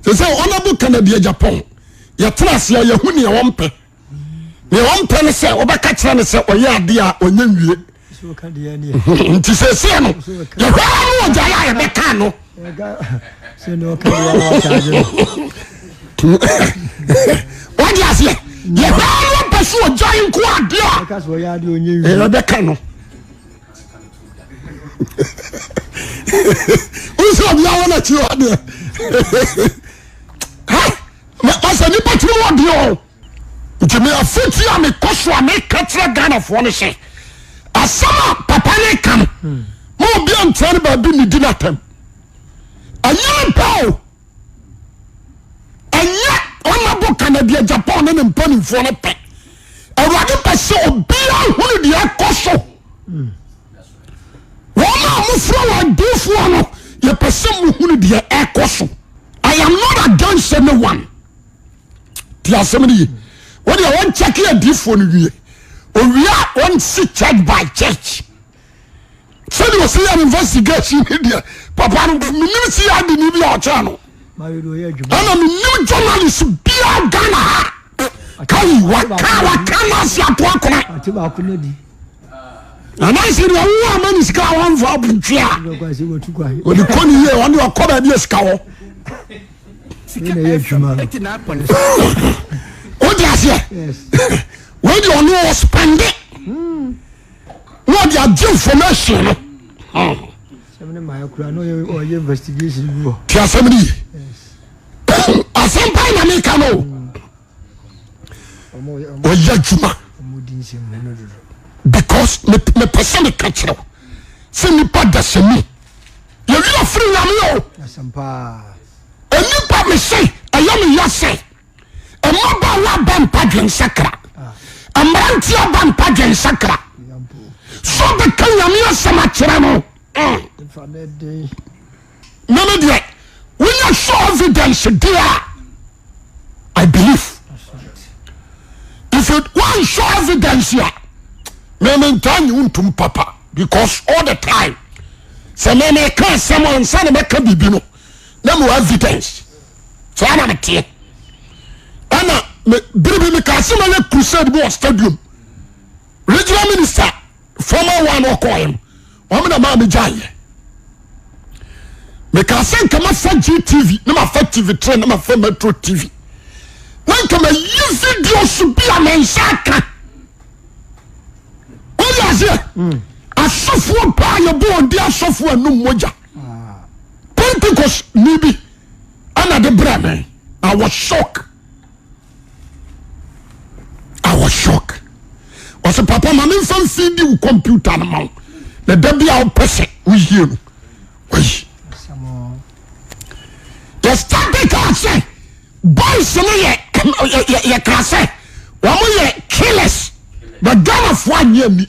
te sɛ honorable kennedy agyapɔn yɛtena ase a yɛhu nea wɔmpɛ nea wɔmpɛ no sɛ wɔbɛka kyerɛ no sɛ ɔyɛ adeɛ a ɔnyɛ nwie nti sɛsɛ no yɛhwɛ ara no ɔgya yɛ a yɛbɛka no wode aseɛ yɛhwɛ ara no ɔpɛ so ɔgya nko adeɛ a yɛbɛka no wosɛ ɔbea wɔ na kyerɛ adeɛ masɛ nipa tiri mu ɔdeɛ o nti me afotu a mekɔ so a meka kyerɛ ghanafoɔ no sɛ asɛm a papa ne ka no ma obi antra no baabi ne di no atɛm ɛnyɛ mpa o Ɛnyɛ honorable Kennedy Agyapong ne ne mpanimfoɔ no pɛ. Awurade pɛ sɛ obiara hunu deɛ ɛkɔ so. Wɔn a wɔfrɛ wɔn adiifoɔ no, yɛpɛ sɛ mohunu deɛ ɛkɔ so. I am not against anyone. Ti asɛm no yie. Wɔn deɛ wɔn kyɛke adiifoɔ no wie. Owie a wɔn si church by church. sɛdeɛ ɔsɛ yɛ investigation ne deɛ papa no menim si yɛ adeni bi a ɔkyɛɛ no ɛna menim journalist biaa ghana ha kai waka waka no ase ato akona ananse deɛ wo ama ne sika a wamfa abotwe a ɔde kɔ ne yie ɔne ɔkɔ baabi a sika hɔ wode aseɛ wei deɛ ɔne ɔspɛnde hmm. na ɔde agye information no. ti asɛm no yi asɛm paa na meka no ɔyɛ adwuma because mepɛ sɛ meka kyerɛ wo sɛ nnipa dasani yɛwerɛ firi nyame o nnipa mese ɛyɛ meyɛ sɛ Mmabaawa aba mpa dwensakra. Mmeranteɛ aba mpa dwensakra. So bɛka nyame asɛm akyerɛ no. Meme deɛ wonya show evidence deɛ a I believe. If you want show evidence a meme ntaa nye wo ntom papa because all the time sɛ meme ka asɛm ansa na mɛka biribi no na mewɔ evidence. saa na meteɛ ɛna bere bi meka sɛ mɛyɛ crusade bi wɔ stadium regional minister former one ɔkɔɛ no wɔn na maa megya yɛ meka sɛ nka mafa GTV na mafa TV3 na mafa Metro TV na nka mayi video so bi a mensa aka wode aseɛ hmm. asɔfoɔ paa yɛbɔ ɔde asɔfoɔ anum mogya ah. Pentecost ni bi ɛna de brɛ me I was shock I was shock ɔsɛ papa ma memfa mfidi wo computer no ma wo na da bi a wopɛ sɛ woyie no wayi yɛstade kaa sɛ boys no yɛ yɛkaa sɛ wɔn yɛ killers but Ghanafoɔ anyɛ ni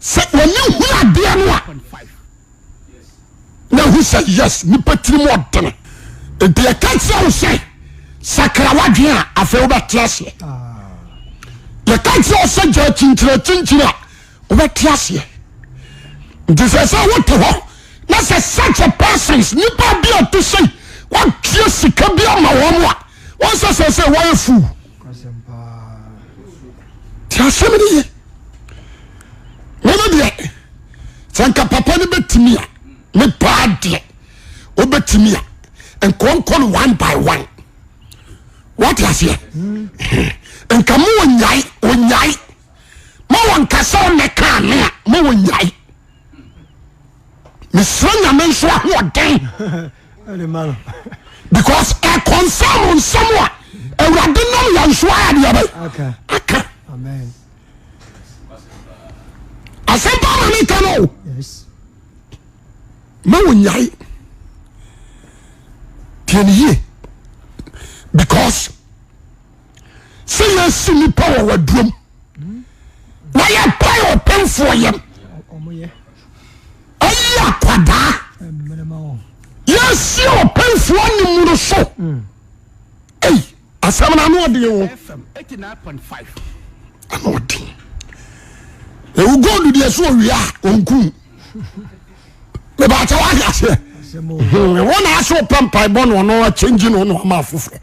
sɛ wɔne hu adeɛ no a na hu sɛ yes nipa tiri mu ɔdene nti ɛka kyerɛ wo sɛ sakra wadwen a afei wobɛte aseɛ yɛka kyerɛ wo sɛ gya kyinkyina kyinkyina a wobɛte aseɛ nti sɛ sɛ wote hɔ na sɛ such a persons nipa bi a ɔte sɛ wɔtwe sika bi ama wɔn a wɔn sɛ sɛ sɛ wɔyɛ fool Ti asɛm no ye meme deɛ sɛ nka papa no bɛtumi a me paa deɛ wobɛtumi a nkɔnkɔ no one by one wate aseɛ nka ma ɔnyae ɔnyae ma wɔnkasa ɔnɛ kaa me a ma ɔnyae mesrɛ nyame nso ahoɔden because ɛconfirm nsɛm a awurade nam yɛ nso adeɛbɛ aka asɛmpa na ne ka no o ma wɔnyae tiɛne yie because sɛ yɛsi nipa wɔ wadurom na yɛpae ɔpemfoɔ yam ayi akwadaa yɛsi ɔpemfoɔ animuno so ei asɛm no ano ɔden o ano ɔden ewu gold deɛ so owia a ɔnkum mebɛkyɛ woahwɛ aseɛ wo na ase wopɛ mpaebɔ no ɔno akyɛngyi no ɔno ama afoforɔ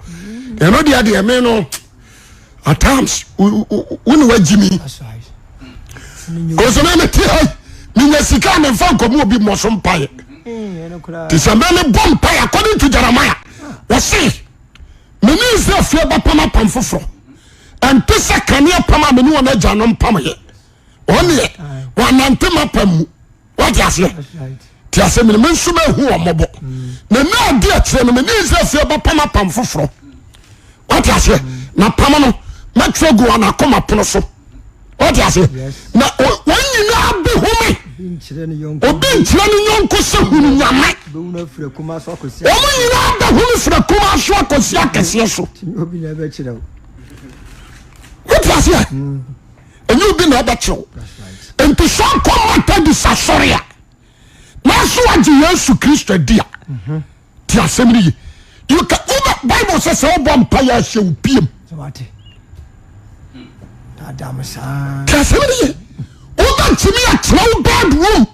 ɛno deɛ deɛ me no at times wo ne wagyi me ɔsɛmɛ mete ha menya sika a memfa nkɔmu obi mmɔ so mpaeɛ te sɛ mɛ mebɔ mpaeɛ according to jeremiah wɔse mene israel fie bɛpam apam foforɔ ɛnte sɛ kaneɛ pam a mene wɔn agya no mpamyɛ wɔn deɛ wɔnante mapa mu wɔte aseɛ te aseɛ mene me nso mahu wɔn mmɔbɔ mm. na na adi akyerɛ no mene nsɛsɛ bɛpam apam foforɔ wɔte aseɛ mm. na pam no mɛtwerɛ gu wɔn akoma pono so wɔte aseɛ na wɔn nyinaa bi ho me obi nkyerɛ ne yɔnko sɛ hunu nyame wɔn nyinaa bɛho me fira kuma so akɔsi akɛseɛ so wote aseɛ mm. ɛnyɛ obi na ɛbɛkyew nti sɛ ɔkɔ methodist asɔre a nanso wagye yesu kristo adi a mhm. ti asɛm no ye you can wobɛ bible sɛ sɛ wobɔ mpa yɛ ahyɛ wo piem ti asɛm no ye wobɛntumi atena wo bedroom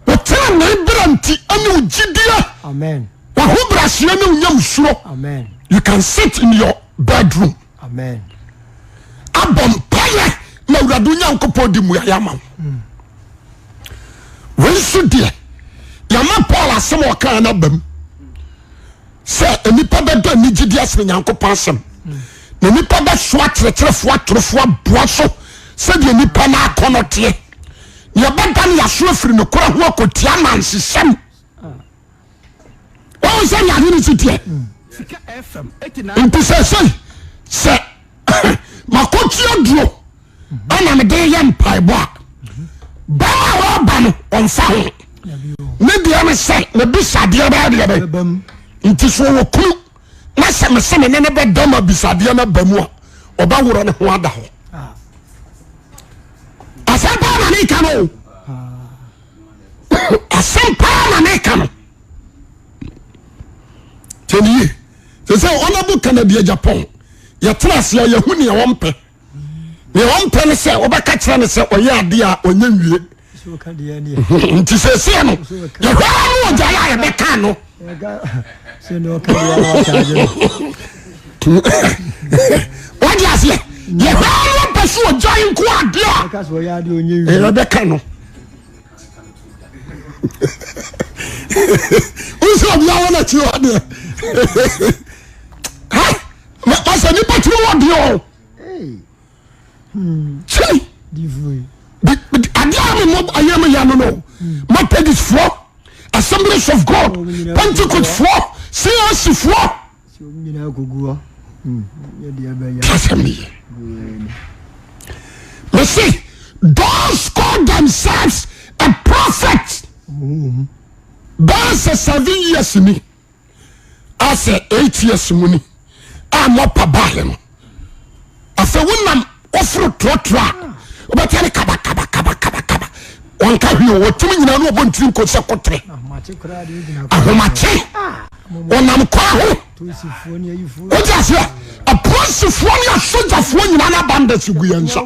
wotena ne berɛ nti ɛne wo gyideɛ wahobraseɛ ne wonyam suro you can sit in your bedroom Amen. Abɔ mpaeɛ na Awurade Onyankopɔn de mmuaeɛ ama wo. Hmm. Wei nso deɛ yɛama Paul asɛm a ɔkaa no abam sɛ nnipa bɛdɔ anigyedi asene Nyankopɔn asɛm hmm. na nnipa bɛsoa kyerɛkyerɛfoɔ atorofoɔ aboa so sɛdeɛ nnipa no akɔnɔ teɛ. Deɛ ɛbɛda no yɛaso afiri nokorɛ ho akɔtia nansesɛm. wọn sɛ ne ade ne si teɛ nti sɛ sɛi sɛ makɔtua duro ɛna mede yɛ mpaebɔ a bɛma a wɔba no ɔmfa ho ne deɛ ne sɛ mebisadeɛ bɛyɛ deɛ bɛ nti so wɔ kunu na sɛ mese me ne ne bɛda ma bisadeɛ no aba mu a ɔbɛworɔ ne ho ada hɔ asɛm paa na meka no o asɛm paa na ne ka no tɛniye te sɛ ɔnabo kanadi agyapɔn yɛtena ase a yɛhu nea wɔmpɛ nea wɔmpɛ no sɛ wɔbɛka kyerɛ no sɛ ɔyɛ adeɛ a ɔnyɛ nwie nti sɛsɛ no yɛhwɛ ara no ɔgya yɛ a yɛbɛka no wode aseɛ yɛhwɛ ara no ɔpɛ so ɔgya nko adeɛ a yɛbɛka no wosɛ ɔbea wɔ nakyi hɔ deɛ masɛ nipa tiri wɔ deɛ o kyei adeɛ a memɔ ayɛ me ya no no methodist foɔ assemblies of god pentecost foɔ cac foɔ Asɛm ne ye. Mese those call themselves a prophet bɛyɛ sɛ seven years ni asɛ eight years mu ni a mɔpa baahe no. afei wonam woforo torɔtorɔ a wobɛtɛ ne kabakabakabakaba wɔnka hwee o wɔtumi nyinaa ne wɔbɔ ntiri nko sɛ kotere ahomakye wɔnam kwan ho wogye aseɛ apolisifoɔ ne asogyafoɔ nyinaa no abanda si gu yɛn nsa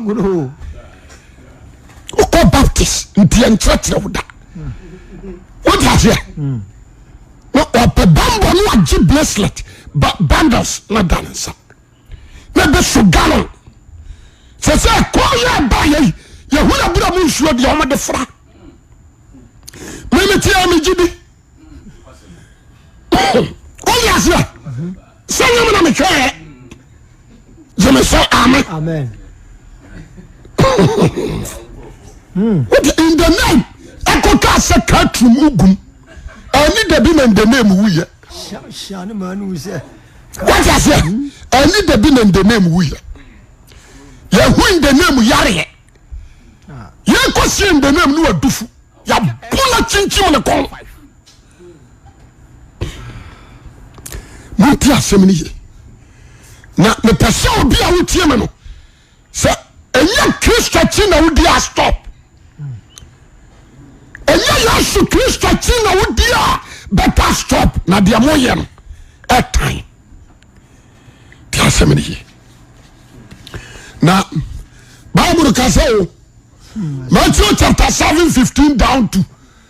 wokɔ baptist nti yɛnkyerɛkyerɛ wo da wogye aseɛ na ɔpɛ bambɔ no agye bracelet ba bundles na da ne nsa na bi so gallon sɛ sɛ kɔɔ yɛ ɛba yɛ yi yɛhu na bura mu nsuo deɛ wɔn de fra mímiti a megye bi wɔn yɛ aseɛ. sɛ nyɛ me na mehwɛɛ gyeme sɛ amen hmm. wote in the name ɛkɔ kaa sɛ katrum wogum ɛni dabi na in the name woyɛ wote aseɛ ɛni dabi na in the name woyɛ yɛho in the name yareɛ yɛkɔ sie in the name ne wadufo yɛbo no kyinkyim ne kɔn monte asɛm no ye na mepɛ sɛ obi a wotie me no sɛ ɛnyɛ kristo akyi na wodi a stop ɛnyɛ yesu kristo akyi na wodi a bɛta stop na deɛ moyɛ no ɛtan te asɛm no ye na bible ka sɛ o Matthew chapter 7 15 down to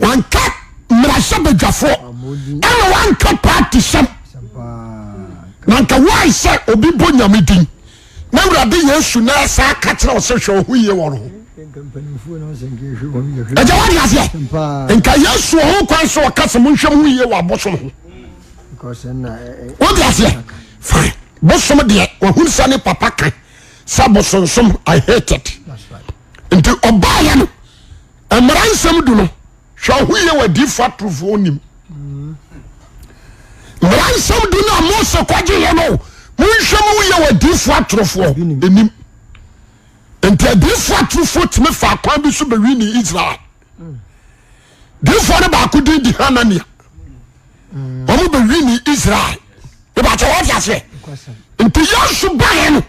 Wanka mmarahyɛbadwafoɔ ɛna wanka paati sɛm na nka wae sɛ obi bɔ nyame din na awurade yesu na ɛsɛ aka kyerɛ ɔsɛ hwɛ ɔho yie wɔn ho ɛgya wade aseɛ nka yesu ɔho kwan sɛ ɔka sɛ monhwɛ mo ho yie wɔ abosom ho wode aseɛ fine bosom deɛ wahunu sɛ ne papa ka sɛ bosonsom i hated nti ɔbaayɛ no mmara nsɛm du no hwɛ ɔho yɛ wɔ adiifo atorofoɔ nim mmara nsɛm du no a mose kɔgye yɛ no monhwɛ mu yɛ wɔ adiifo atorofoɔ nim nti adiifo atorofoɔ tumi fa akwan bi so bɛwi ne israel diifoɔ no baako din di hanania wɔn bɛwi ne israel ebakyɛ wɔte aseɛ nti yɛsu baayɛ no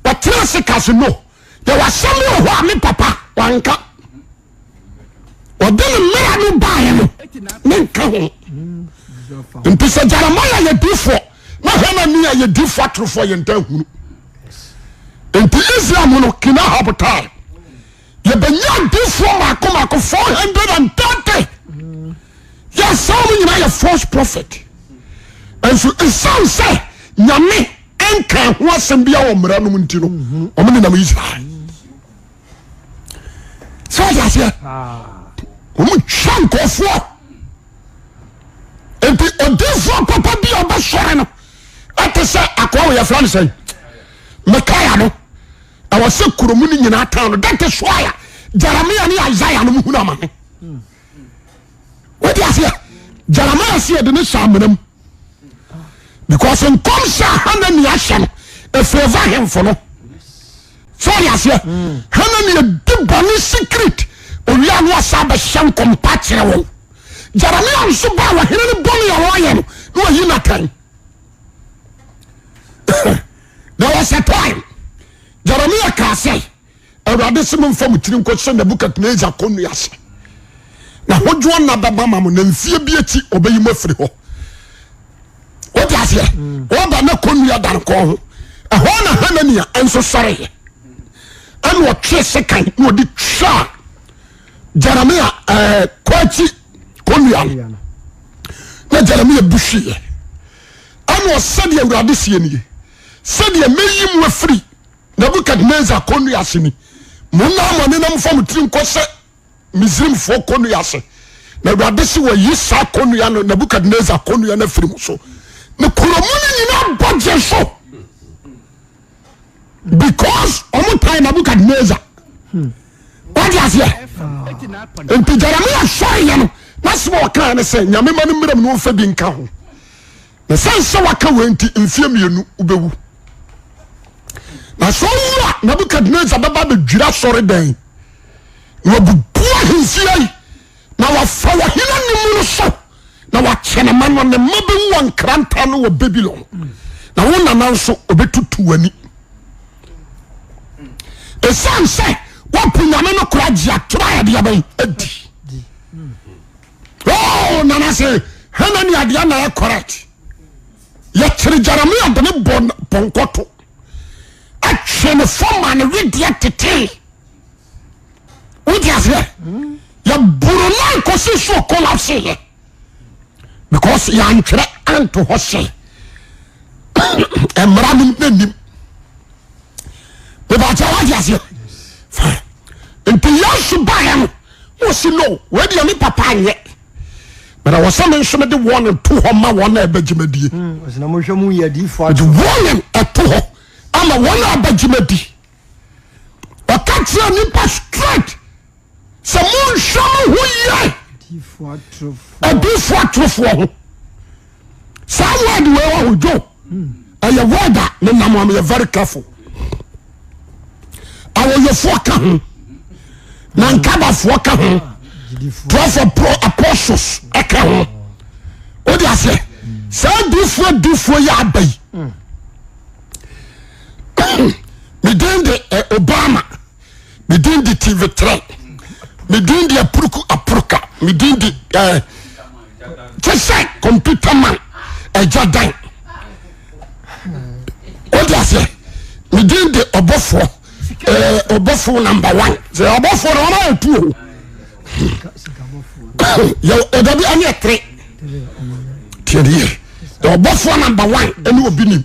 wɔtena ase kasi no yɛwɔ asɛm bi wɔ hɔ a me papa wanka ɔde ne mmara no baeɛ no ne nka ho nti sɛ jeremia yɛ difoɔ na hanania yɛ difoɔ atorofoɔ yɛ nta hunu nti israel mu no kina habotae yɛbɛnya difoɔ mako mako 430 yɛsɛ wɔn nyinaa yɛ false prophet nso ɛsiane sɛ nyame nkaa ho asɛm biara wɔ mmara no mu nti no, wɔn nenam Israel. Sɛ wɔde aseɛ, wɔn twa nkɔfoɔ. Nti odiifoɔ papa bi a ɔbɛsɔre no ɛte sɛ akɔa wɔ yɛfrɛ no sɛn Mikaia no ɛwɔ sɛ kurom no nyinaa tan no dɛte soaya Jeremia ne Isaiah no mu hunu amane wɔde aseɛ Jeremia si ɛde ne saa mmenam because nkɔmhyɛ a hanania hyɛ no ɛfɛva hemfo no so ɔde aseɛ hmm. hanania di bɔne secret owia no asa bɛhyɛ nkɔmpa kyerɛ wɔn jeremia nso ba wɔ hene no bɔne a wɔayɛ no na wayi natan there was a time jeremia kaa sɛ Awurade se momfa mo tiri nkɔhyɛ Nebukadnesar kɔnnua ase, na hodwoɔ nna bɛba ama mo, na mfie bi akyi ɔbɛyi mo afiri hɔ. Wote aseɛ? Ɔba hmm. na kɔnnua da no kɔn ho. Ɛhɔ na Hanania nso sɔreeɛ. Ɛna ɔtwe sekan na ɔde twaa Jeremia ɛɛ eh, kɔ akyi kɔnnua no. Na Jeremia bu hwieɛ. Ɛna ɔsɛdeɛ Awurade sie nie. Sɛdeɛ mɛyi mo afiri Nebukadnesar kɔnnua ase ni, Monna mo anenam mfa mo tiri nkɔhyɛ Misraimfoɔ kɔnnua ase, na Awurade se wayi saa kɔnnua no, Nebukadnesar kɔnnua no afiri mo so, ne kuro mu no nyina bɔgye so, because ɔmo tan Nebukadnesar. Wadi aseɛ? Nti Jeremia sɔre yɛ no, n'asɛm a ɔkaeɛ ne sɛ, Nyame ma no mmram na ɔmfa bi nka ho. Na sɛn sɛ waka wei nti mfeɛ mmienu wobɛwu. Na sɛ ɔwu a Nebukadnezar bɛba bɛdwiri asɔre dɛn na wabubu ahemfie yi na wafa wɔ hena ne mu no so na wakyɛ ne ma no ne mma bɛwu wɔ nkranta no wɔ Babilon na wo nana nso ɔbɛtutu w'ani ɛsiane sɛ woapo nyame no kora gye atorɔ a ɛdeɛ bɛn adi Oh, nana se, hena ni adeɛ na yɛ correct? Yɛkyere Jeremia de ne bɔ pɔnkɔ to. Ɛtwe ne fam ma ne wedeɛ tetee. Wote aseɛ? Yɛboro no ankɔsi so collapse yɛ. Because yɛantwerɛ anto hɔ sɛ mmara no na nim. Mebakyɛ wote aseɛ? Fine. Nti Yesu baeɛ no Wɔ si no wei deɛ ne papa anyɛ but ɛwɔ sɛ me nso mede warning to hɔ ma wɔn a ɛbɛgye me die ɔsɛ na mohwɛ mu yɛ adiifoɔ mede atorɔ warning ɛto hɔ ama wɔn a ɛbɛgye me di ɔka kyerɛ nipa straight sɛ monhwɛ mo ho yɛ adiifoɔ atorofoɔ adiifoɔ atorofoɔ ho saa word wei wɔ ho dwo ɛyɛ word a ne nam am yɛ very careful awoyofoɔ ka ho na nkabafoɔ ka ho twelve apostles ɛka ho o de aseɛ saa difoɔ difoɔ yɛ aba yi me den de Obama medin de tivetrɛ medin de apuruku apuruka medin de ɛɛ eh, kyɛ sɛ kɔmputa man ɛgya dan wode aseɛ medin de ɔbɔfoɔ ɛɛ eh, ɔbɔfoɔ namba one sɛ ɔbɔfoɔ na wɔn ayɛ tu o yɛ ɛdɔ bi ɛne ɛtere tiɛdeɛ ɔbɔfoɔ namba one ɛne obi nim.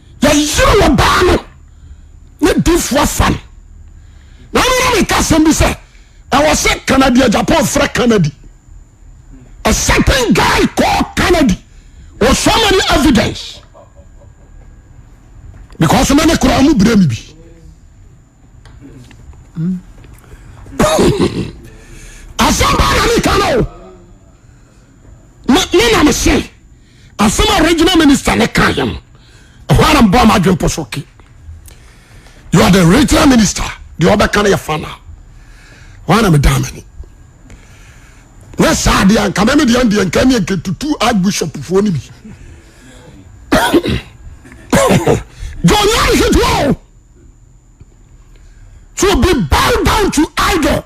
yɛyere ɔbaa no ne difo afa no na mena meka asɛm bi sɛ ɛwɔ sɛ canadi ajapan frɛ canadi a certain guy call canadi or so many evidence because mene koraa mu berɛ me bi asɛm baa na meka no o me na mese Asɛm a regional minister ne ka yɛ no, ɛhɔ ara mbɔ ama adwene pɔ so ke. You are the regional minister, deɛ ɔbɛka no yɛ final. Hɔ ara me dan m'ani. Nyɛ saa adeɛ a, nka mɛmi deɛ ndeɛ nka ɛneɛ nka tutu archbishop foɔ no bi. John Yari Hidwell. to be bow down to idol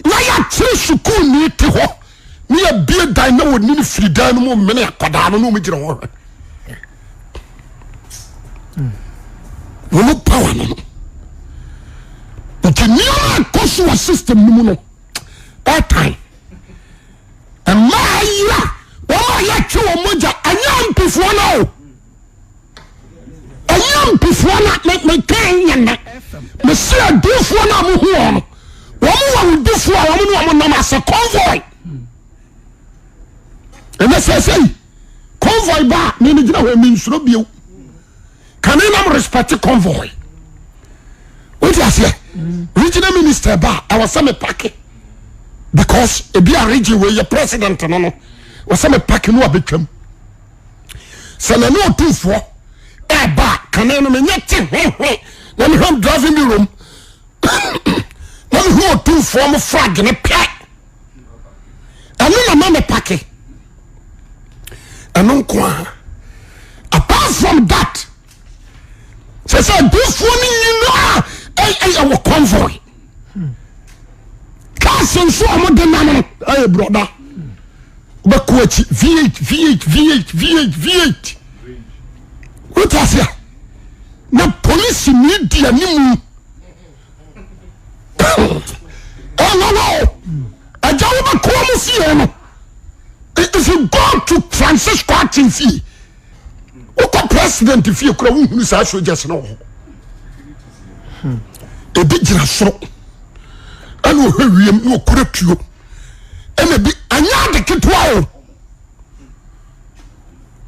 na yɛakyere sukuuni te hɔ ne yɛbie dan na wɔni no firi dan no mu mene akwadaa no na wɔgyina hɔ hwɛ wɔn power no no nti nneɛma ɛkɔ so wɔ system no mu no ɛtan mmaa yi a wɔn a yɛtwe wɔn mogya ɛnyɛ mpifoɔ no o ɛyɛ mpefoɔ na mekɛn nyɛ nnɛ mese adiifoɔ no a mohu wɔ no wɔn wɔ wodifoɔ a wɔn ne wɔn nam asɛ convoy ɛnɛ sɛ sɛ yi convoy ba a mene gyina hɔ mensuro bio kane nam respect convoy wote aseɛ regional minister ba a ɛwɔ sɛ mepake because ebi a region wei yɛ president no no wɔ sɛ mepake no a bɛtwam sɛ nane ɔtumfoɔ ɛba a kane no menyɛ te hwehwe na mehwɛ driving bureau mu na mehu ɔtumfoɔ mo flag no pɛ ɛno na ma mepake ɛno nko a apart from that sɛ sɛ adifoɔ no nyinaa ɛyɛ wɔ convoy cars nso a wɔde nam no ɛyɛ brɔda bɛkɔ akyi v8 v8 v8 v8 v8 wote ase a na polisi ne di animu ɛnana o ɛgya wobɛkɔ mu fie no if you go to Francisco Akyemfie wokɔ president fie kora wohunu saa soldiers no wɔ hɔ ebi gyina soro ɛna ɔhwɛ wiem na ɔkura tuo ɛna bi anyɛ ade ketewa o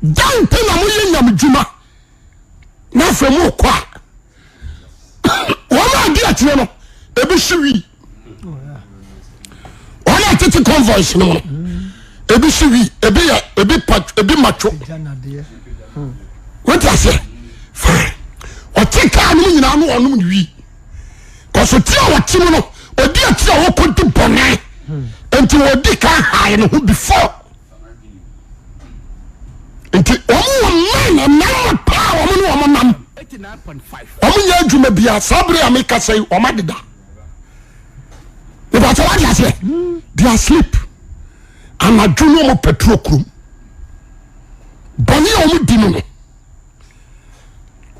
dan pɛ na moyɛ nyame dwuma na afei morekɔ a wɔn a adi akyerɛ no ebi hye wii wọn a tete convoys no mu ebi si wi ebi yɛ ebi pa ebi matwo wọ́n ti ase fine ọtí kaa no mu nyinaa no ọnom wi kọsọ tí a ọtí mu no ọdi ẹtí a ọkọ di bọnẹ nti ọdi kan haayi ne ho before nti ọmọ wọ mman ẹnam paa ọmọ ne ọmọ nam ọmọ nyɛ adwuma bia saa bere a mi kasa yi ọmọ adeda. mebatɔ wade aseɛ they are sleep anadwo no ɔmo patrol kurom bɔne a ɔmo di no no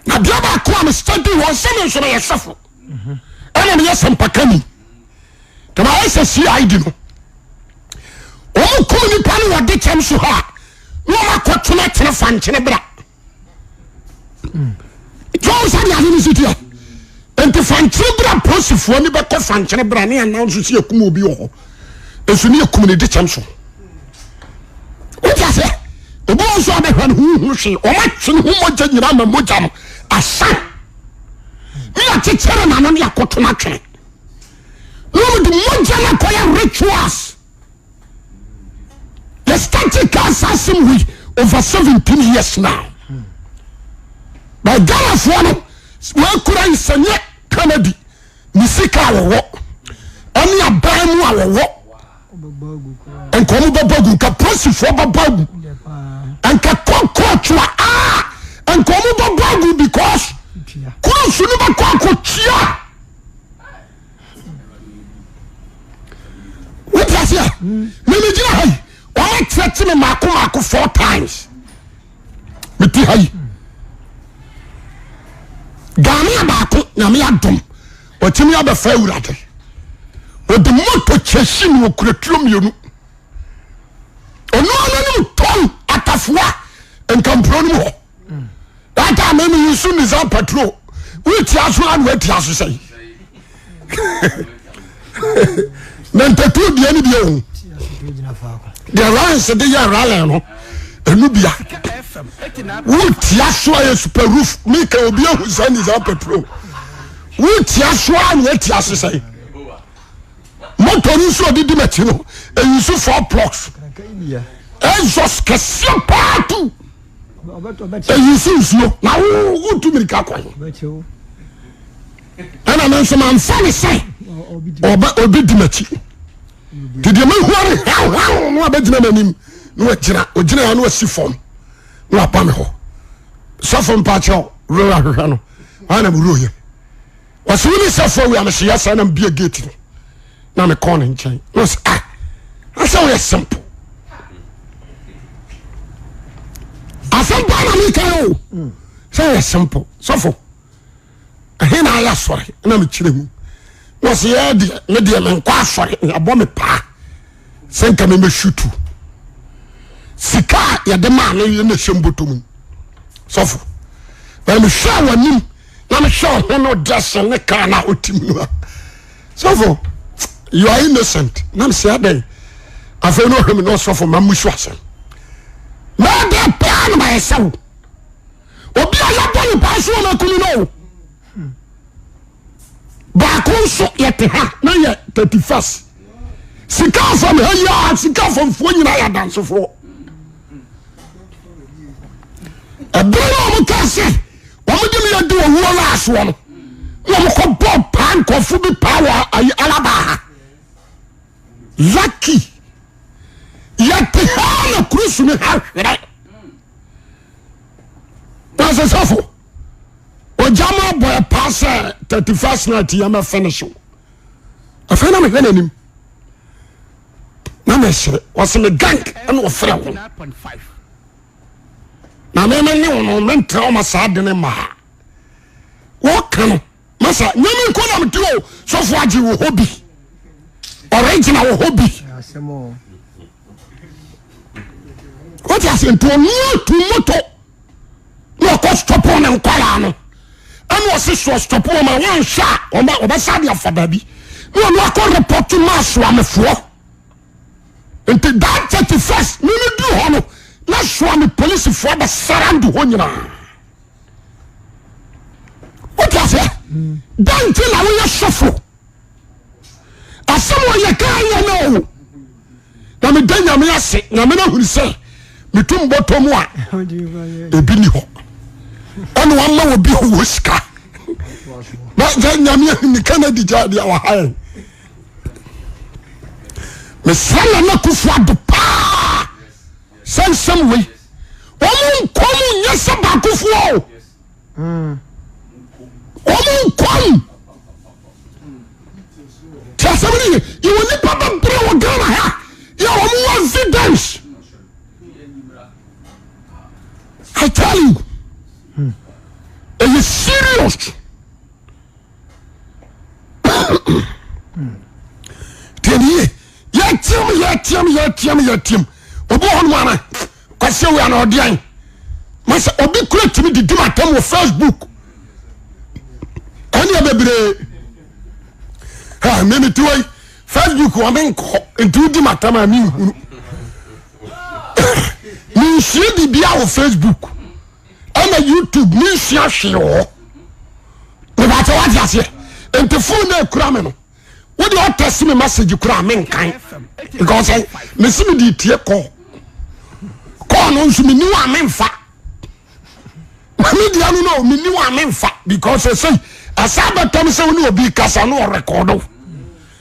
na deɛ baako a me study wɔn sɛ me nso meyɛ sɔfo ɛna meyɛ sɛmpakani dɛm ayɛ sɛ CID no ɔmo kum nipa no wɔde kyɛm so hɔ a na ɔmo akɔtena tena fa nkyene bra tɔn sani ase ni si tia nti fankyere bere a polisifoɔ ni bɛkɔ fankyere bere a ne anan so si ekum obi wɔ hɔ nso ne ekum ne de kyɛm so o ti ase obi wɔn so abɛhwɛ ne ho hu hwee wɔn atwe ne ho mogya nyinaa ma mogya no asa ne akyekyere n'ano ne akoto n'atwene na wɔn de mogya no akɔyɛ rituals. yɛ starte kaa saa asɛm wei over seventeen years now but ghanafoɔ no wɔakura nsɛnyɛ kanadi ne sika a wɔwɔ ɛne aban mu a wɔwɔ nka wɔn bɛbɔ gu nka polisifoɔ bɛbɔ gu nka kɔkɔɔtwa a nka wɔn bɛbɔ gu because kurofo no bɛkɔ akɔtua. wote aseɛ memegyina ha yi wɔma kyerɛkye me maako maako four times mete ha yi ghanea baako nyame adom wɔtumi abɛfa awurade wɔde moto kyɛhyi ne wɔkura tuo mmienu ɔno ananom tɔn atafoa nkampuro no mu hɔ that time mi yi su nisa patrol wi ti aso la na wa ti aso sɛyi na ntɛtu diɛ ni bi ehu deɛ ryansi de yɛ ralɛ no enu bia wu ti aso ayɛ super roof mi ka obi ehu sɛ nisa patrol wu ti aso la na wa ti aso sɛyi moto ni nso ɔdi di ma ti no eyi so four blocks exhaust kɛseɛ paa tu. eyi si nsuo na wo wotu mirika kɔ he ɛna me nso mamfa ne sɛ ɔbɛ ɔbɛdi m'akyi nti deɛ mahua no hawhaw na wabɛgyina m'anim na wagyina ɔgyina ya na wasi fam na waba me hɔ sɔfo mpakyɛw werɛ ahwehwɛ no ana mewurɛ yɛ wɔsi wo ne sɛfo awi amesi yɛ sɛ na mbie gate no na me kɔn ne nkyɛn na ɔsi ah asɛ wɔyɛ simple asɛm paa na mi ka yɛ o sɛ wɔyɛ simple sɛfo ɛhe na ayɛ asɔre na mi kyerɛ mu na ɔsi yɛ deɛ ne deɛ mi nkɔ asɔre na abɔ mi paa sɛ nka mi bɛ shutu sika a yɛde maa no yɛ na ɛhyɛ mbotom sɔfo na mi hwɛ wɔn anim. na mehwɛ ɔhene no dressing ne car na otim no a sɔfo you are innocent na me sɛ adɛn afei na ɔhwɛ me na ɔsɔfo ma mu so asɛm mɛdɛ paa na mayɛ sɛ wo obi a yɛbɔ ne paa so ɔma kunu no o baako nso yɛte ha na yɛ thirty first sika fam ha yi a sika famfoɔ nyinaa yɛ adansefoɔ ɛbɛrɛ a wɔn kaa sɛ. wɔn de mi yɛ di owuo no asoɔ no na wɔn kɔ bɔ paa nkɔfo bi paa wɔ ayi alaba ha lucky yɛte ha na kurusu ne ha hwerɛ wasesɛfo ɔgya ma abɔ ɛpaa sɛ thirty first night yɛ mɛ finish o afei na mehwɛ n'anim na mɛsere wɔsɛ me gank ɛna ɔfrɛ ho na me me ne wo no mentra wo ma saa de ne mmaa wɔka no masa nyame nkɔ na mete o sɔfo agye wɔ hɔ bi ɔregyina wɔ hɔ bi wote ase nti ɔno atu moto na ɔkɔ stɔpo ne nkwaraa no ɛna ɔse soɔ stɔpo ɔma wɔnhwɛ a ɔbɛsa de afa baabi na ɔno akɔ repɔto ma asoamefoɔ nti that thirty first mi mi duru hɔ no na soa mi polisifoɔ abɛ surround hɔ nyinaa o ti aseɛ dan ti na woyɛ sɔfo asɛm ɔyɛ kaa yɛ na o na mi da nyame ase nyame na huri sɛ mi tu mbɔtɔ mu a ebi ni hɔ ɛna wɔn ama wɔ bi wɔ sika na nyame ahuni kennedy gya deɛ wɔ ha yɛn. mesra nana akufo ado paa sɛ nsɛm wei wɔn nkɔm nyɛ sɛ baakofoɔ o wɔn nkɔm tí asɛm ni yɛ yɛ wɔ nipa bɛbrɛ wɔ Ghana ha yɛ wɔn wɔ evidence I tell you ɛyɛ serious. tɛniye yɛtiam yɛtiam yɛtiam yɛtiam obi hɔ no ana kwasi awia na ɔdeɛn masɛ obi kura tumi didi ma tam wɔ facebook ɛneɛ bebree ha mimi ti wei facebook wɔ me nkɔ nti wodi ma tam a menhunu menhyia biribia wɔ facebook ɛna youtube ne nsua hwee wɔ hɔ mebakyɛ wate aseɛ nti fon na ɛkura me no wode ɔtɛse me message kura a menkan because eh, mese mede tie kɔɔ kɔɔ no nso menni wɔ a memfa media no no menni wɔ a memfa because ɛsei ɛsɛ bɛtɔm sɛ wo ne obi kasa no ɔrekɔdo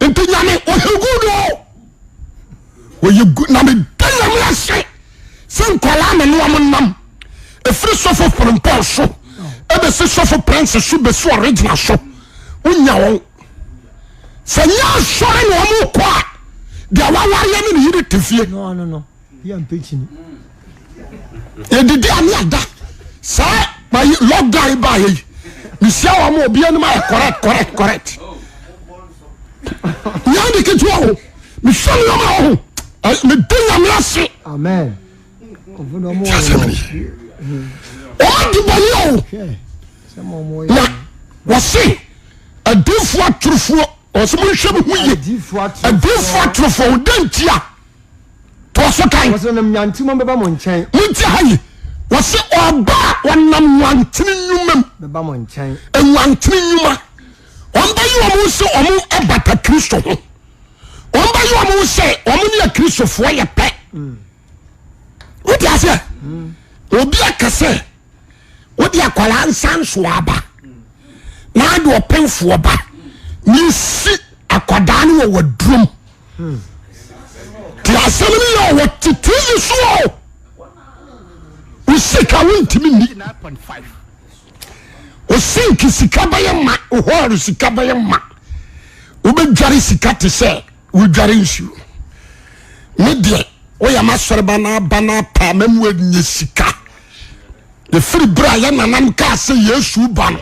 nti nyame ɔyɛ good o ɔyɛ good na meda nyame ase sɛ nkwadaa me ne wɔn nam ɛfiri sɔfo pirimpɔn so ɛbɛsi sɔfo prince so bɛsi original so wonya wɔn sɛ nyɛ asɔre na wɔn kɔ a deɛ wawareɛ ne ne yere te fie. No, no, no. Yɛ mpɛkyini. Yɛdidi a ne yɛda. Saa bayi lockdown yi baa yɛ yi. Mesia wɔn mu obi anim ayɛ correct correct correct. Nyɛ de ketewa o. Mehwɛ nneɛma wɔ ho. Mede nyame ase. Amen. Ti asɛm ne yɛ. Wɔn adi bɔne o. Na wɔse adiifoɔ atorofoɔ wɔn sɛ monhwɛ mo ho yie. Adiifoɔ atorofoɔ wɔn dɛ ntia. toa so kan. Wɔsi ɔnam nyanti mu bɛba mo nkyɛn. Mo nti ha yi, wɔsi ɔba a ɔnam nwantini nnwuma mu. Bɛba mo nkyɛn. Nwantini nnwuma, wɔn bɛ yi wɔn sɛ wɔn ɛbata Kristo ho, wɔn bɛ yi wɔn sɛ wɔn ne akristofoɔ yɛ pɛ. Mm. Wọ́n ti ase ẹ̀, obi akasẹ̀. wode akwaraa nsa nsoa aba na ade ɔpemfoɔ ba na esi akwadaa no wɔ wadurom te asɛm no yɛ ɔwɔ tete yi so o wo sika wontumi ni wo sinki sika bɛyɛ ma wo hɔɔre sika bɛyɛ ma wobɛdware sika te sɛ wodware nsuo me deɛ woyɛ masɔreba na aba na apa ma mu anyɛ sika ɛfiri berɛ a yɛnanam kaa sɛ yesu ba no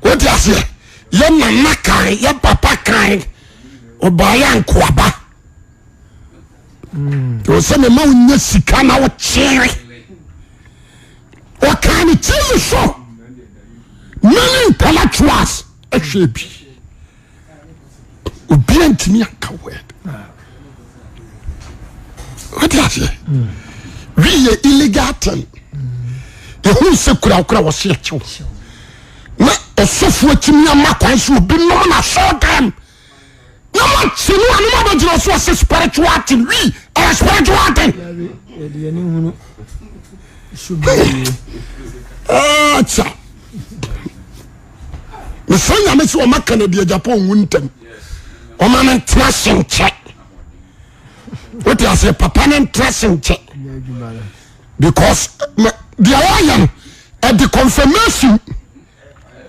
wode aseɛ yɛnana kan yɛ papa kan ɔbaayɛ ankoaba ɛwɔ sɛ mema wonya sika na wokyere ɔkaa ne tv so many intellectuals ɛhwɛ bi obia ntumi anka word wode aseɛ wiyɛ illegal ten yɛhu sɛ kurakura wɔse akyew na ɔsɔfoɔ tumi ama kwan sɛ obi nom na sɔɔ dam na wɔkye no a na wɔbɛgyina so ɔsɛ spiritual ten wi ɛyɛ spiritual ten ɛkyɛ mesrɛ nyame sɛ ɔma kanadi agyapa ɔwu ntɛm ɔma no ntena se nkyɛ wote aseɛ papa no ntra se nkyɛ because deɛ wɔayɛ no ɛde confirmation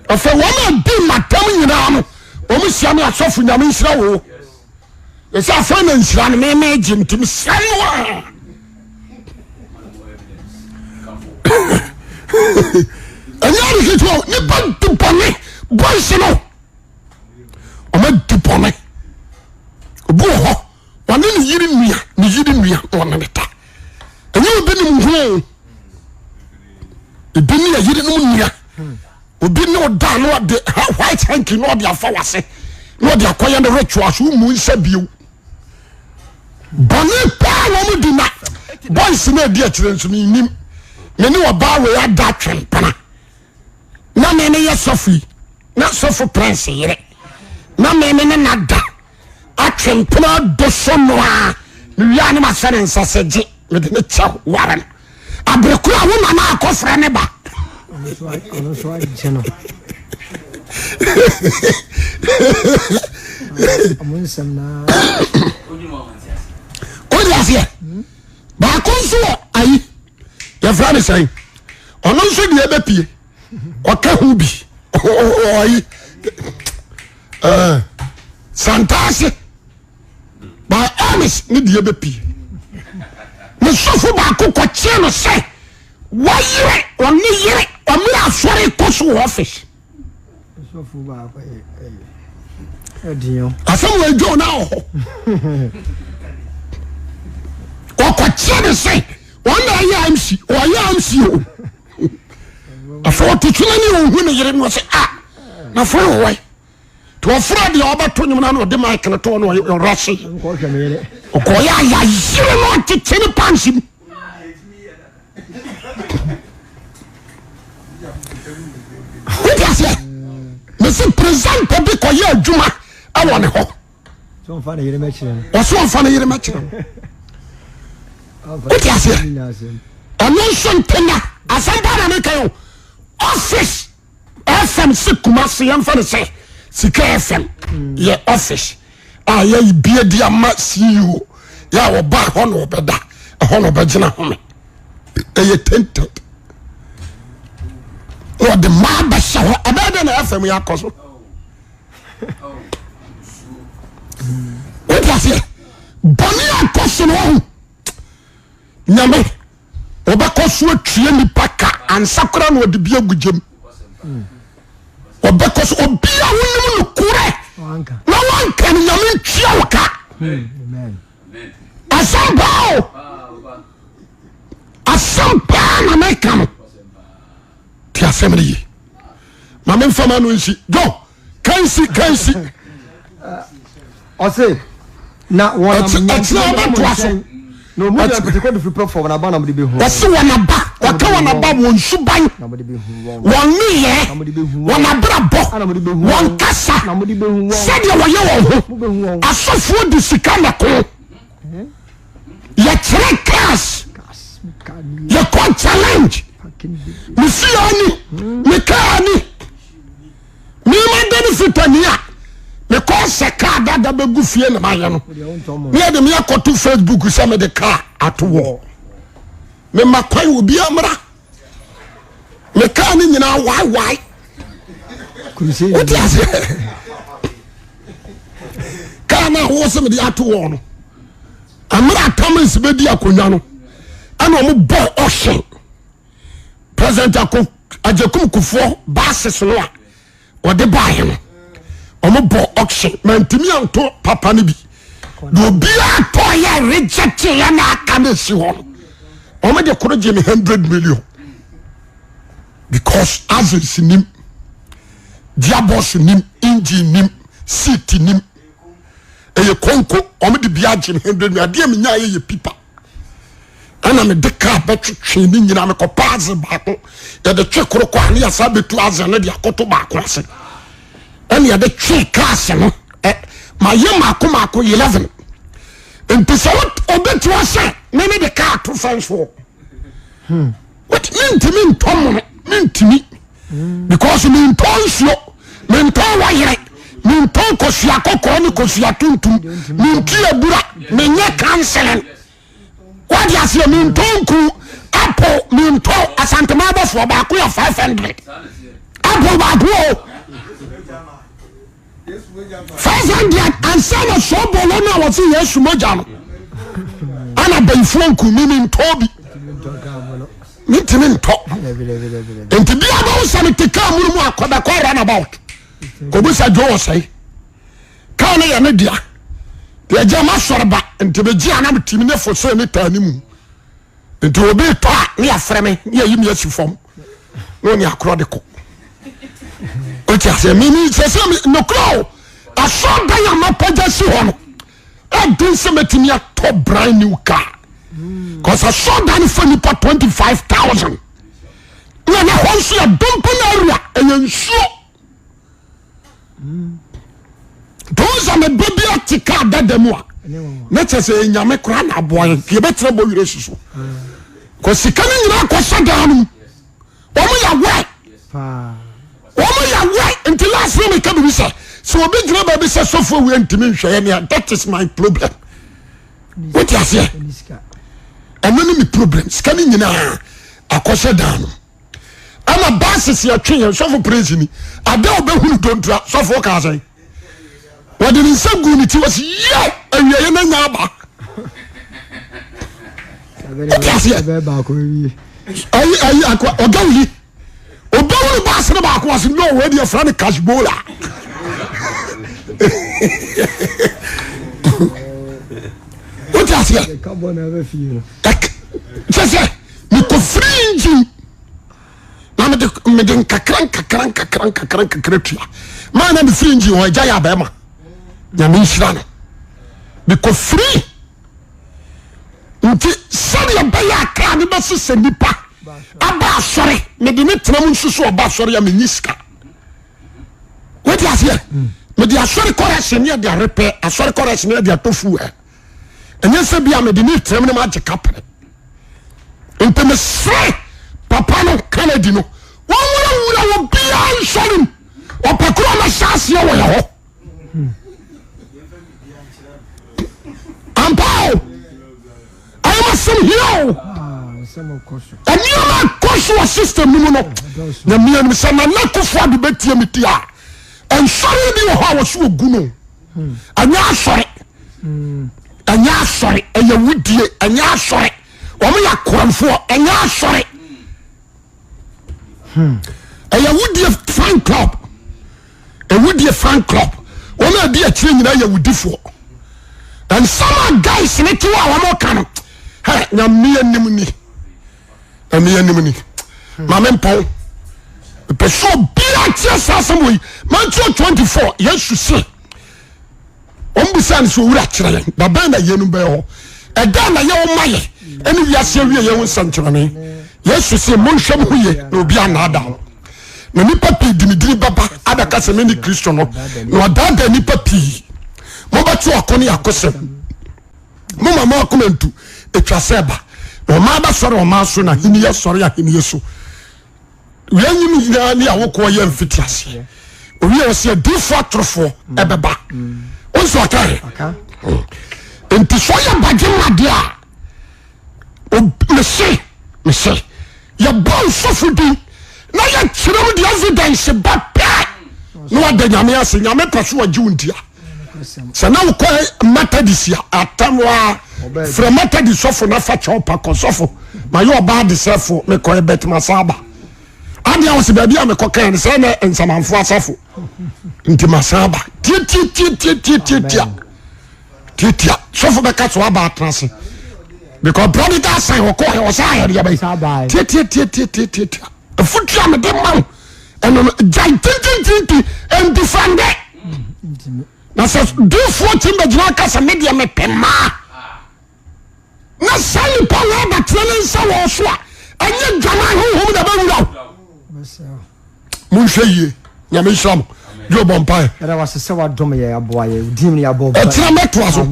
ɔfɛ wɔn a di matam nyinaa no wɔn hyia ne asɔfo nyame nhyira wo ɛsɛ afei na nhyira no meme gye nti mesra no a ɛnyɛ adeketewa nipa di bɔne boys no ɔma di bɔne obi wɔ hɔ ɔne ne yere nua ne yere nua na ɔne ne ta ɛnyɛ obi ne mu ho ebi ne yere no mu nua obi ne ɔda na ɔde white hanky na ɔde afa wase na ɔde akɔyɛ ne rituals mu nsa bio bɔne paa na ɔmo di na boys na edi akyire nso ne nim ne ne ɔbaa wei ada atwempena na ne ne yɛ sɔfo yi na sɔfo prince yere na ne ne ne nada atwe mpena do so no a, mewie a na mahyɛ ne nsa sɛ gye mede ne kyɛ ware no. Abere koro a wo nana akɔfrɛ ne ba. Ɔno nso agye no. Ɔmo nsɛm naa. Wode aseɛ? Baako nso wɔ ayi yɛfrɛ ne sɛn ɔno nso deɛ bɛpie ɔka ho bi ɔyi ɛɛ santaase by honest ne deɛ bɛ pie ne sɔfo baako kɔkyeɛ no sɛ wɔyere ɔne yere ɔmere asɔre kɔ so wɔ ɔfis asɛm wɔ adwo na wɔ hɔ ɔkɔkyeɛ ne sɛ ɔna ɛyɛ amsi ɔyɛ amsi o afei ɔte so ne ɔhu ne yere no ɔsɛ a ah, na fo no wɔe nti ɔfrɛ deɛ ɔbɛto nwom no na ɔde ma kene to no ɔra se ɔkɔyɛ aya yere no ɔtete ne panse mu wode aseɛ mese presenter bi kɔyɛ adwuma ɛwɔ ne hɔ ɔsɛ ɔmfa ne yere mɛkyerɛ wo wote aseɛ ɔno nso ntena asɛm paa na meka o office fm se kuma se yɛmfa no sɛ sika fm yɛ office a yɛyi bie di ama ceo yɛ a wɔba ɛhɔ na ɔbɛda ɛhɔ na ɔbɛgyina home ɛyɛ tainted na ɔde maa bɛhyɛ hɔ ɛbɛyɛ dɛ na fm yɛ akɔ so wode aseɛ bɔne akɔ so no wahu nyame wɔbɛkɔ so atwie nipa ka ansa koraa na ɔde bi agu gyam wɔbɛkɔ so obi a wonim no korɛ na wanka no nyame ntua wo ka asɛm paa o asɛm paa na meka no ti asɛm no ye ma memfama no nsi dɔ kansi kansi ɔse na wɔnamɛtena bɛtoa so na ɔmu yɛ mpɛtɛkɔ de firi pɛ fam na aba na mode bɛhu ɔse wɔn aba wɔka wɔn aba wɔn suban wɔn nneyɛ wɔn abrabɔ wɔn kasa sɛdeɛ wɔyɛ wɔn ho asɔfoɔ de sika na ko yɛkyerɛ cars yɛkɔ challenge mefia ni mekaa ni mema dane fitani a mekɔ sɛ kaa dada bɛgu fie na mayɛ no ne yɛde meyɛkɔto facebook sɛ mede kaa atowɔ mema kwan obiara mmra mekaa ne nyinaa waewae wote aseɛ kaa no a wo sɛ mede ato wɔ no ɛmerɛ atamans bɛdi akonnwa no ɛna ɔmo bɔ ɔhye president agyakum kufoɔ bases no a wɔde baeɛ no wɔn bɔ auction mantumi anto papa no bi na obiara tɔɔyɛ reject yɛ na aka na esi hɔ no wɔn de koro gye me hundred million because aziz nim diabos nim engine nim seat nim ɛyɛ konko wɔn de bi agye me hundred million adeɛ mi nya yɛ yɛ pipa. ɛna mede kaa bɛtwetwee ne nyinaa mekɔpa adze baako yɛde twe koro kɔ a ne yɛsa bɛtu adze no de akoto baako ase ɛna yɛde twe kaase no ɛ mayɛ mako mako eleven nti sɛ wobɛtua sɛ ne ne de kaa to fɛnsoɔ hmm. Wait, mentumi ntɔ mono mentumi hmm. because mentɔ nsuo mentɔ wɔyere mentɔ nkosua kɔkɔɔ ne kosua tuntum menti abura menyɛ counseling wade aseɛ mentɔ nku apo mentɔ asantema abɔfoɔ baako yɛ 500 apo baako o five hundred ansa na sɔɔ bɔɔlɔ no a wɔse yesu mogya no ana bayifoɔ nku mimi ntɔɔ bi mentimi ntɔ nti bia bɛwo sɛ mete kaa mu no mu akɔbɛkɔ runabout kɔbusa dwo wɔ sɛe kaa no yɛ ne dea yɛgya masɔre ba nti megye ana metimi ne fo sɛ ne taa ne mu nti obi tɔ a ne yɛfrɛ me ne yɛyi me asi fam na ɔne akorɔ de kɔ ɔte aseɛ mimi sɛ sɛ nokorɛ o asɔ dan a mapagya si hɔ no ɛden sɛ mɛtumi atɔ brand new car cause asɔ dan no fa nipa twenty five thousand na na hɔ nso yɛ dompen area ɛyɛ nsuo nti wọn sɛ ne ba bi ate kaa dada mu a ne kyɛ sɛ ɛnyame koraa na aboa yɛn nti yɛbɛtena bɔ werɛ si so kɔ sika no nyinaa kɔ sɛ daa no mu wɔn yɛ wɛ wɔn yɛ wɛ nti last na meka biribi sɛ sɛ obi gyina baabi sɛ sɔfo awia ntumi nhwɛ yɛ nea that is my problem wote aseɛ ɛno ne me problem sika no nyinaa akɔ sɛ daa no ɛna buses yɛ twe yɛn sɔfo praise ni ada a ɔbɛhunu dontra sɔfo ɔka asɛn wɔde ne nsa gu ne ti wɔsi yɛ awia yɛ na nya aba ɛtiaseɛ ayi ayi akɔ ɔga wuli ɔbɛhunu bus no baako wɔsi no wɔn adi ɛfra ne cash bola wotiaseɛ sɛ sɛ. mekɔfiri engine na mede mede nkakra nkakra nkakra nkakra nkakra tua maa na mefiri engine hɔ agya yɛ abɛɛma nyame nhyira no mekɔfiri nti sɛdeɛ bɛyɛ akra ne bɛsesɛ nipa aba asɔre mede ne tena mu nso so ɔba asɔre a menyi sika wode aseɛ mede asɔre kɔrɛhyɛ ne ɛde arepɛ asɔre kɔrɛhyɛ ne ɛde atɔ fuel ɛnyɛ sɛ bia mede ne tirim no magye ka pere nti mesrɛ papa no kanadi no wɔwurawura wɔ biaa nsɔre mu ɔpɛ korɔ na hyɛ aseɛ wɔ yɛ hɔ ampao ayɛmasɛm hia o ɛnneɛma ɛkɔ so wɔ system no mu no nyamea nim sɛ nana kofoɔ ado bɛtie me ti a nsɔre bi wɔ hɔ a wɔso wɔgu no ɛnyɛ asɔre ɛnyɛ asɔre ɛyɛ wudie ɛnyɛ asɔre wɔn yɛ akoranfoɔ ɛnyɛ asɔre ɛyɛ wudie fan club ewudie fan club wɔn a ɛdi akyire nyinaa yɛ wudifoɔ nsɛm a guys ne ti wɔ a wɔn ka no ɛ nyamea nim ni. ɛmeɛnimni mame mpɔn pɛ sɛ obia teɛ saa sɛm wei matthew 24 yesu se ɔmbisa no sɛ owura kyerɛ yɛn dabɛn na yɛnum bɛyɛ hɔ ɛdɛn na yɛwɔ ma yɛ ɛne wiase awie yɛn ho nsɛnkyerɛnne yesu se monhwɛ mo ho yie na obi anaadaa mo na nipa pii di me dini bɛba abɛka sɛ mene kristo no na ɔdaadaa nipa pii mobɛto ako ne akosɛm mo ma mo akoma ntu etwa sɛ ɛba na ɔman abɛsɔre ɔman so na ahenni asɔre ahenni so wia nyi no nyinaa ne awokoɔ yɛ mfiti aseɛ owie wɔ sɛ adiifoɔ atorofoɔ ɛbɛba wɔn nso ɔka yɛ nti sɛ ɔyɛ badwe mu adeɛ a mese mese yɛbɔ nsɔfo din na yɛkyerɛ mu de evidence ba pɛ na wada nyame ase nyame pɛ so ɔgye wo ntia sɛ na wokɔ methodist a atam wa frɛ methodist sɔfo na fa kyɛw pa kɔ sɔfo ma yɛ ɔbaa de sɛ fo mekɔ ɛbɛt masaba adeɛ wɔ sɛ baabi a mekɔ kan sɛ na nsamanfo asafo nti masaba tietietie tietietie tiatia sɔfo bɛka so aba atena ase because prodigal son ɔkɔ ɛ ɔsɛ ayɛ deɛ bɛyɛ tiatia tiatia tiatia tia afutu a mede ma wo ɛno no gyae tintintinti ndifande na sɛ difoɔ kyim bɛgyina aka sɛ medeɛ mepɛ mmaa na saa nipa wei abatena ne nsa wɔ so a ɛnyɛ dwaman honhom na ɛbɛwura wo monhwɛ yie nyame nhyira mo dwo bɔ mpae ɛtena mɛtoa so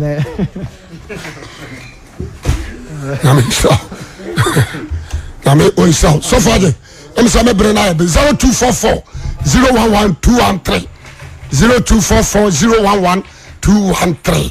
nyame nhyira nyame ɔnhyira wo sɔfo ade ɛm sɛ mɛbrɛ no ayɛ be 0244 011 213 0244 011 213